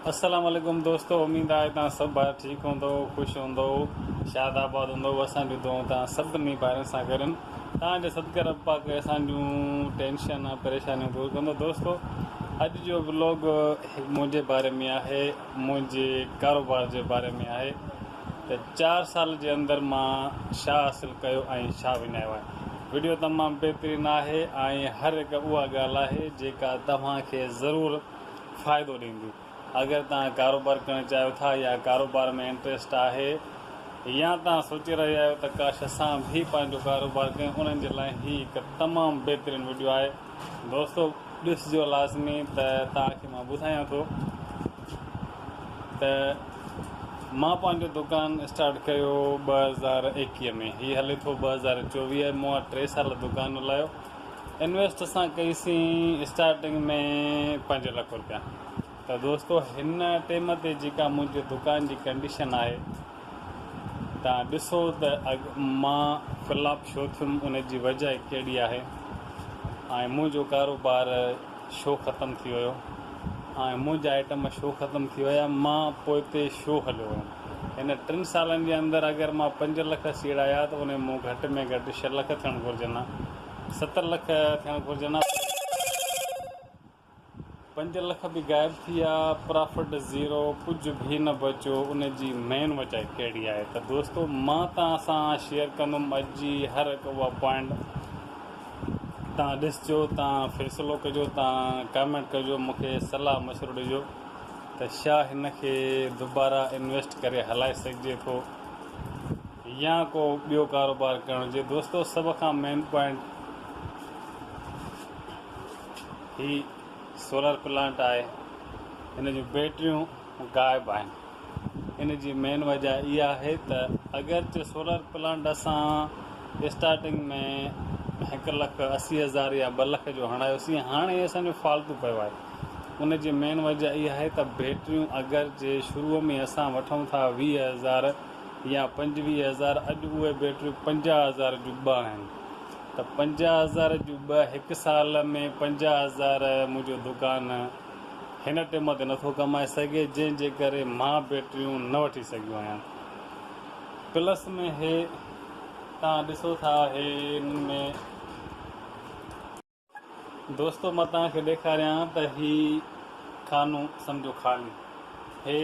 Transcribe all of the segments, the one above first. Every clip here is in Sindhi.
السلام عليڪم دوستو اميد آهي توهان سڀ ڀائر ٺيڪ هوندؤ خوش هوندؤ شاد آباد هوندؤ اسان جون دعائون توهان سڀني ڀائرن سان گڏ آهن توهان جي صدقي رب پاڪ اسان جون ٽينشن ۽ پريشانيون دور ڪندو دوستو اڄ جو بلاگ منهنجي باري ۾ آهي منهنجي ڪاروبار جي باري ۾ آهي ته چار سال جي اندر مان شاهه حاصل ڪيو ۽ شاهه وڃايو آهي ويڊيو تمام بهترين آهي ۽ هر هڪ اها ڳالهه آهي جيڪا توهان کي ضرور فائدو ڏيندي. اگر توهان ڪاروبار ڪرڻ چاهيو ٿا يا ڪاروبار ۾ انٽريسٽ آهي يا توهان سوچي رهيا آهيو ته ڪاش اسان به پنهنجو ڪاروبار ڪيون انهن جي لاء هي هڪ تمام بهترين وڊيو آهي دوستو ڏسجو لازمي ته توهان کي مان ٻڌايان ٿو ته مان پنهنجو دڪان اسٽارٽ ڪيو ٻه هزار ايڪيهه ۾ هي هلي ٿو ٻه هزار چوويهه مون ٽي سال دڪان هلايو انويسٽ اسان ڪئي سين اسٽارٽنگ ۾ پنج لک روپيا ته دوستو هن ٽيم تي جيڪا منهنجي دڪان جي ڪنڊيشن آهي تان ڏسو ته اڳ مان فلاپ شو ٿيم ان جي وجه ڪهڙي آهي ۽ منهنجو ڪاروبار شو ختم ٿي ويو ۽ منهنجا آئٽم شو ختم ٿي ويا مان پوئتي شو هليو ويم. هن ٽن سالن جي اندر اگر مان پنج لک سيڙايا ته انهي مون گهٽ ۾ گهٽ ڇهه لک ٿيڻ گهرجن ها، ست لک ٿيڻ گهرجن ها پر پنج لک به غائب ٿي ويا، پرافٽ زيرو، ڪجهه به نه بچيو، ان جي مين وجهه ڪهڙي آهي ته دوستو مان توهان سان شيئر ڪندم اڄ جي هر هڪ اها پوائنٽ توهان ڏسجو، توهان فيصلو ڪجو، توهان ڪامينٽ ڪجو، مون کي صلاح مشورو ڏجو. ته ڇا هن کي دوباره انويسٽ ڪري هلائي سگهجي ٿو يا ڪو ٻيو ڪاروبار ڪرڻ هجي دوستو سڀ کان مين پوائنٽ هي سولر پلانٽ آهي هن جون بيٽريون غائب آهن ان جي مين وجهه اها آهي ته اگرچه سولر پلانٽ اسان اسٽارٽنگ ۾ هڪ لک اسي هزار يا ٻه لک جو هڻايوسين هاڻي اسان جو فالتو پيو آهي ان جي مين وجهه اها آهي ته بيٽريون اگرچه شروع ۾ اسان وٺون ٿا ويهه هزار يا پنجويهه هزار اڄ اهي بيٽريون پنجاهه هزار جون ٻه آهن ته پنجاهه هزار جون ٻه هڪ سال ۾ پنجاهه هزار منهنجو دڪان هن ٽيم تي نٿو ڪمائي سگهي جنهن جي ڪري مان بيٽريون نه وٺي سگهيو آهيان پلس ۾ هي تان ڏسو ٿا هي ان ۾ دوستو مان تان کي ڏيکاريان ته هي خانو سمجهو خالي هي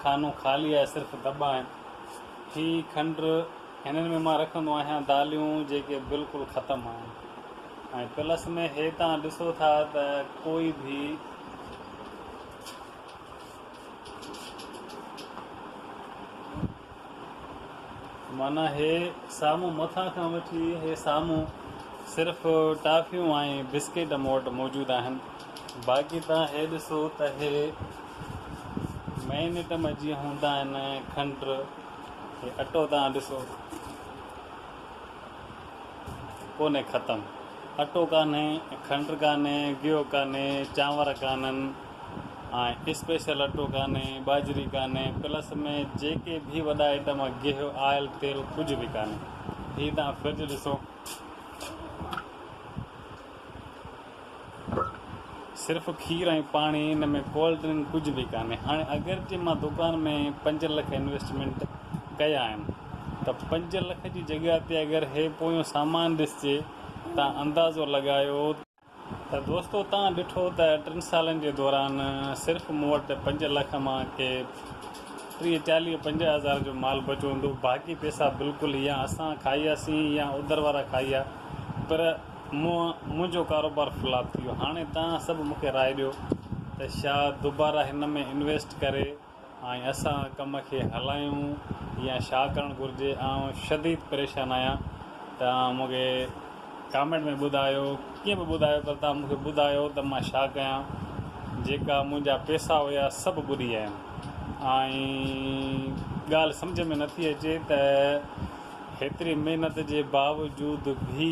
خانو خالي آهي صرف دٻا آهن هي کنڊ هنن ۾ مان رکندو آهيان داليون جيڪي بلڪل ختم آهن ۽ پلس ۾ هي تان ڏسو ٿا ته ڪوئي ڀي معنيٰ هي سامهون مٿان کان وٺي هي سامهون صرف ٽافيون ۽ بسڪيٽ مون وٽ موجود آهن باقي تان هي ڏسو ته هي مئنيٽم جيئن هوندا آهن کنڊ هي اٽو توهان ڏسو ڪونهي ختم اٽو ڪانهي کنڊ ڪانهي گيهو ڪانهي چانور ڪانهن ۽ اسپيشل اٽو ڪانهي ٻاجهري ڪانهي پلس ۾ جيڪي به وڏا آئٽم گيهو آئل تيل ڪجهه به ڪانهي هي توهان فرج ڏسو صرف کير ۽ پاڻي ان ۾ ڪولڊ ڊرنڪ ڪجهه به ڪانهي هاڻي اگرچه مان دڪان ۾ پنج لک انويسٽمينٽ ڪيا آهن ته پنج لک جي جڳهه تي اگر هي پويون سامان ڏسجي تان اندازو لڳايو ته دوستو تان ڏٺو ته ٽن سالن جي دوران صرف مون وٽ پنج لک مان ڪي ٽيهه چاليهه پنجاهه هزار جو مال بچو هوندو باقي پئسا بلڪل يا اسان کائياسين يا اوڌر وارا کائيا پر مون منهنجو ڪاروبار فلاپ ٿي ويو هاڻي توهان سڀ مونکي راء ڏيو ته ڇا دوباره هن ۾ انويسٽ ڪري ۽ اسان ڪم کي هلايون يا ڇا ڪرڻ گهرجي آئون شديد پريشان آهيان توهان مونکي ڪامينٽ ۾ ٻڌايو ڪيئن به ٻڌايو پر توهان مونکي ٻڌايو ته مان ڇا ڪيان جيڪا منهنجا پيسا هيا سڀ ٻڏي ويا آهن ۽ ڳالهه سمجهه ۾ نٿي اچي ته هيتري محنت جي باوجود به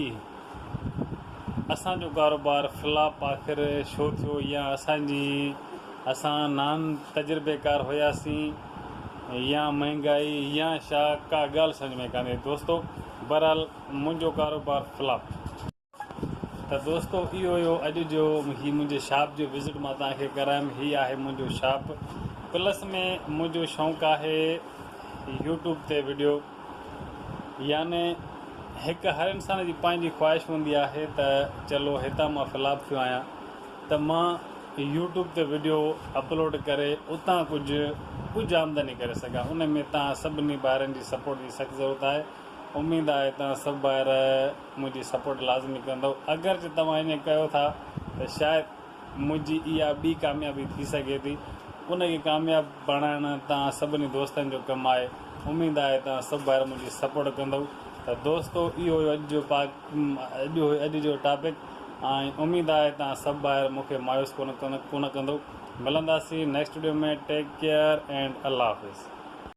اسان جو ڪاروبار فلاپ آخر شو ٿيو يا اسان جي اسان نان تجربيڪار هياسين يا مهنگائي يا شا ڪا ڳالهه سمجهه ۾ ڪانه ايندي دوستو بهرحال منهنجو ڪاروبار فلاپ ته دوستو اهو هيو اڄ جو هي منهنجي شاپ جو وزٽ مان توهان کي ڪرايم هي آهي منهنجو شاپ پلس ۾ منهنجو شونق آهي يوٽيوب تي ويڊيو يعني هڪ هر انسان جي پنهنجي خواهش هوندي آهي ته چلو هتان مان فلاپ ٿيو آهيان ته مان يوٽيوب تي ويڊيو اپلوڊ ڪري اتان ڪجهه ڪجهه آمدني ڪري سگهان ان ۾ توهان سڀني ڀائرن جي سپورٽ جي سخت ضرورت آهي اميد آهي توهان سڀ ڀائر منهنجي سپورٽ لازمي ڪندؤ اگرچه توهان ائين ڪيو ٿا ته شايد منهنجي اها ٻي ڪاميابي ٿي سگهي ٿي ان کي ڪامياب بڻائڻ توهان سڀني دوستن جو ڪم آهي اميد آهي توهان سڀ ڀائر منهنجي سپورٽ ڪندؤ ته دوستو اهو هيو اڄ جو پاڪ اڄ هيو اڄ جو ٽاپڪ ۽ اميد آهي توهان سڀ ڀائر مون کي مايوس ڪونه ڪونه ڪندؤ ملنداسين next video ۾ take care and الله حافظ